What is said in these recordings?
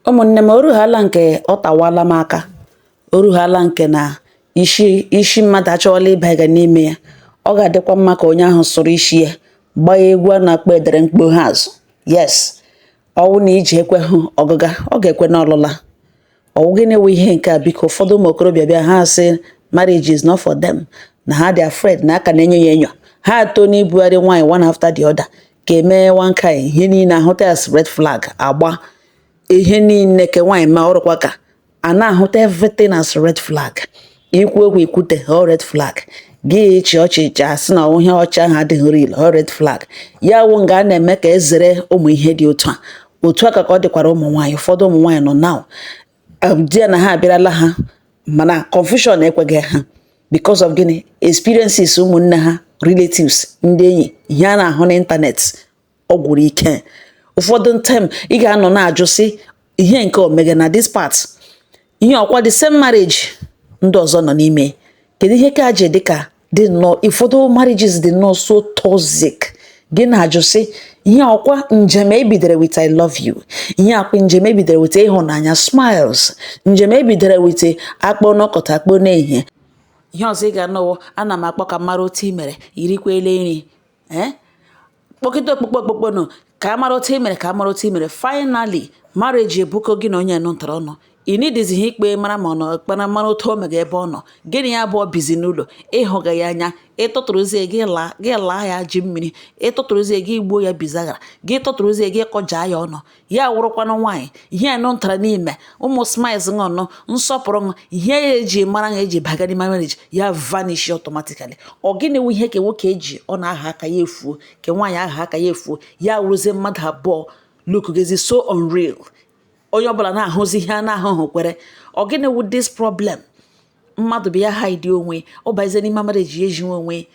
Ụmụnne m, o ruhaala nke ọ tawaala m aka, o ruhaala nke na isi mmadụ achọwala ịbanye n'ime ya. Ọ ga-adịkwa mma ka onye ahụ sụrụ isi ya gbaa egwu a na-akpọ edere mkpo ha azụ. Yes, ọwụ na ije ekwehụ ọgụga, ọ ga-ekwe n'ọlụla. Ọwụ gịnị wụ ihe nke a biko ụfọdụ ụmụ okorobịa bịa ha sị marriage is not for them na ha dị afraid na a ka na-enyo ya enyo ha atọ n'ibugharị nwaanyị one after the other ka emee one kind ihe niile ahụta as red flag agba ihe niile ke nwaanyị ma ọrụkwa ka a na-ahụta everything as red flag ikwu okwu ikwute ọ red flag gị ịchị ọchị ịchị asị na ihe ọchị ahụ adịghị real ọ red flag ya wụ nga a na-eme ka ezere ụmụ ihe dị otu a otu a ka ka ọ dịkwara ụmụ nwaanyị ụfọdụ ụmụ nwaanyị nọ now di ya na ha abịarala ha mana confusion ekweghị ha because of gịnị experiences ụmụnne ha relatives ndị enyi ihe a na-ahụ n'ịntanetị ọ gwụrụ ike ụfọdụ time ị ga-anọ na-ajụ sị ihe nke o mega na this part ihe ọkwa the same marriage ndị ọzọ nọ n'ime kedu ihe ka ji dị ka dị nnọọ ụfọdụ marriages dị nnọọ so toxic gị na-ajụ sị ihe ọkwa njem ebidere with i love you ihe ọkwa njem ebidere with ịhụnanya smiles njem ebidere with akpọ n'ụtụtụ akpọ n'ehihie ihe ọzọ ị ga-anọwo ana m akpọ ka mara otu i mere i rikwele nri ee eh? kpọkịta ọkpụkpọ ọkpụkpọ nọ ka a mara otu i mere ka a mara otu i mere finally marriage ebukọ gị na onye nụntara ọnụ ị n'idizi ihe ịkpọ mara ma ọ nọ kpara mara otu o mega ebe ọ nọ gị na ya abụọ bizi n'ụlọ ị hụga ya anya ịtụtụrụzie gị laa ya ji mmiri ịtụtụrụzie gị gbuo ya bizaghara gị tụtụrụzie gị kọjaa ya ọnụ ya wụrụkwanụ nwaanyị ihe anụ ntara n'ime ụmụ smiles ṅụnụ nsọpụrụ ṅụ ihe ya eji mara ya eji baga n'ime marriage ya vanish automatically ọ gịnị wụ ihe ke nwoke eji ọ na-aha aka ya efuo ke nwaanyị aha aka ya efuo ya wụrụzie mmadụ abụọ look gezi so unreal onye ọbụla na-ahụzi ihe a na-ahụhụ kwere ọ gịnị wụ this problem mmadụ bịa hide onwe ọ bazie n'ime marriage ya eji onwe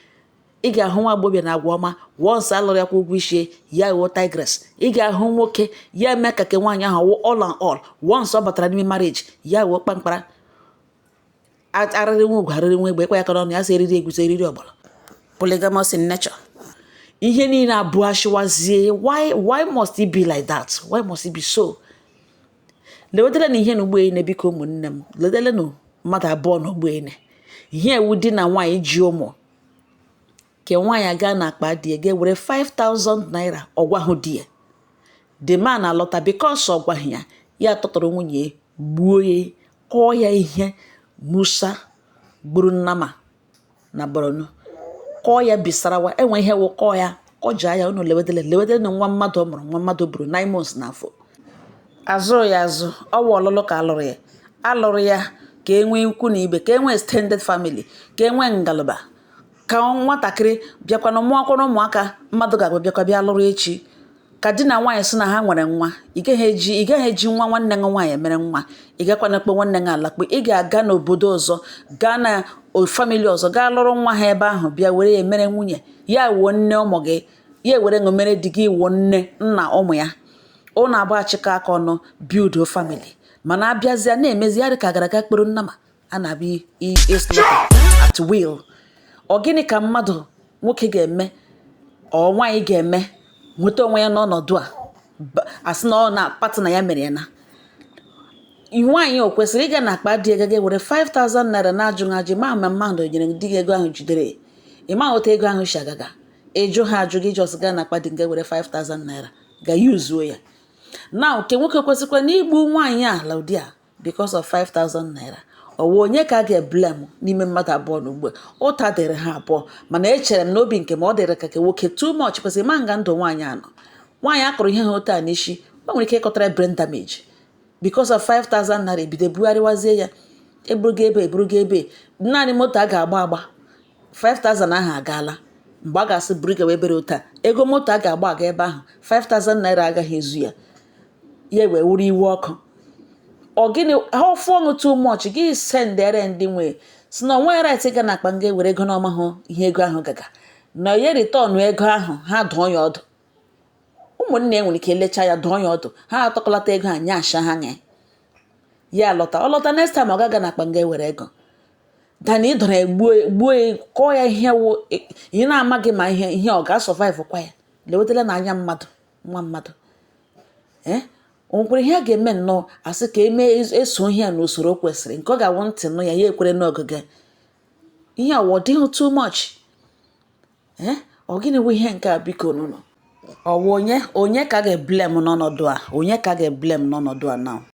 ị ga-ahụ nwa agbọghọbịa na agwa ọma once alụrụ ya kwụọ ụgwọ isi ya ghọọ tigress ị ga-ahụ nwoke ya eme ka ke nwaanyị ahụ wụ all and all once ọ batara n'ime marriage ya ghọọ kpamkpara arịrị nwa ugo arịrị nwa egbe ịkpa ya aka n'ọnụ ya sị eriri egwusi eriri ọgbọnọ polygamous in nature ihe niile abụ achịwazie why why must it be like that why must it be so lewetara na ihe na ụgbọene biko ụmụnne m ledelenu mmadụ abụọ na ụgbọene ihe a wụ di na nwaanyị ji ụmụ nke nwaanyị aga n'akpa di ya ga were 5000 naira ọ gwahụ di ya the man alọta because ọ gwaghị ya ya tụtụrụ nwunye ya gbuo ya kụọ ya ihe musa gburu nnama na borno kụọ ya bisarawa enwe ihe wụ kụọ ya ọ ji anya unu lewedele lewedele na nwa mmadụ mụrụ nwa mmadụ buru nine months na afọ azụrụ ya azụ ọwụ alụlụ ka alụrụ ya alụrụ ya ka e nwee ikwu na ibe ka e nwee extended family ka e nwee ngalaba ka nwatakịrị bịakwa na mụọkwara ụmụaka mmadụ ga-abịa bịakwa bịa lụrụ echi ka di na nwaanyị sị na ha nwere nwa ị gaghị eji ị gaghị eji nwa nwanne gị nwaanyị mere nwa ị gakwana kpe nwanne gị alakpe ị ga-aga n'obodo ọzọ gaa na family ọzọ gaa lụrụ nwa ha ebe ahụ bịa were ya mere nwunye ya ewuo nne ụmụ gị ya ewere ṅụ mere di gị iwuo nne nna ụmụ ya ụnụ abụọ achịkọ aka ọnụ build family mana abịazịa na-emezi ya dị ka gara aga kpụrụ nnama a na-abịa islaughter at will ọ gịnị ka mmadụ nwoke ga-eme ọ nwaanyị ga-eme nweta onwe ya n'ọnọdụ a asị na ọ na partner ya mere ya na nwaanyị o kwesịrị ịga na akpa di ego were 5000 naira na-ajụghị ajụ ma ma mmadụ nyere di gị ego ahụ jidere ị ma otu ego ahụ si agaga ị jụha ajụ gị just gaa na akpa di gị were 5000 naira ga yuzuo ya na nke nwoke kwesịkwa na igbu nwaanyị a ilu ụdị a because of 5000 naira ọwụ onye ka a ga-eblame n'ime mmadụ abụọ na ugbu ụta dịrị ha abụọ mana echere m n'obi nke m ọ dịrị ka ke nwoke too much kwesịrị ịma nga ndụ nwaanyị a nọ nwaanyị a kụrụ ihe a otu a n'isi o nwere ike ịkọtara brain damage because of 5000 naira ebido bugharịwazie ya eburugo ebe eburugo ebe naanị moto a ga-agba agba 5000 ahụ agaala mgbe a ga-asị buru gawa ebere ụta ego moto a ga-agba aga ebe ahụ 5000 naira agaghị ezu ya ya wee wuru iwe ọkụ ọ gịnị ha ọfụ ọnụ too much gị sendere ndị nwe ya sị na o nwe right ga na akpa nga ewere ego n'ọ mahụ ihe ego ahụ gaga na ya return ego ahụ ha dụọ ya ọdụ ụmụnne ya nwere ike lecha ya dụọ ya ọdụ ha atụkọlata ego a nye asha ha nye ya lọta ọ lọta next time ọ gaga na akpa nga ewere ego than ịdọrọ ya gbuo ya- gbuo ya kụọ ya ihe wụ ị na-amaghị ma ihe ihe ọ ga-asurvivekwa ya lewetala na anya mmadụ nwa mmadụ ee o nwekwara ihe a ga-eme nnọọ asị ka emee es- eso ihe a n'usoro o kwesịrị nke ọ ga-awụ ntị nụ ya ya ekwere n'ogige ihe a wụ ọ dịghị too much eh? ọ gịnị bụ ihe nke a bikonụnụ ọwụ onye onye ka a ga-eblame n'ọnọdụ a onye ka a ga-eblame n'ọnọdụ a na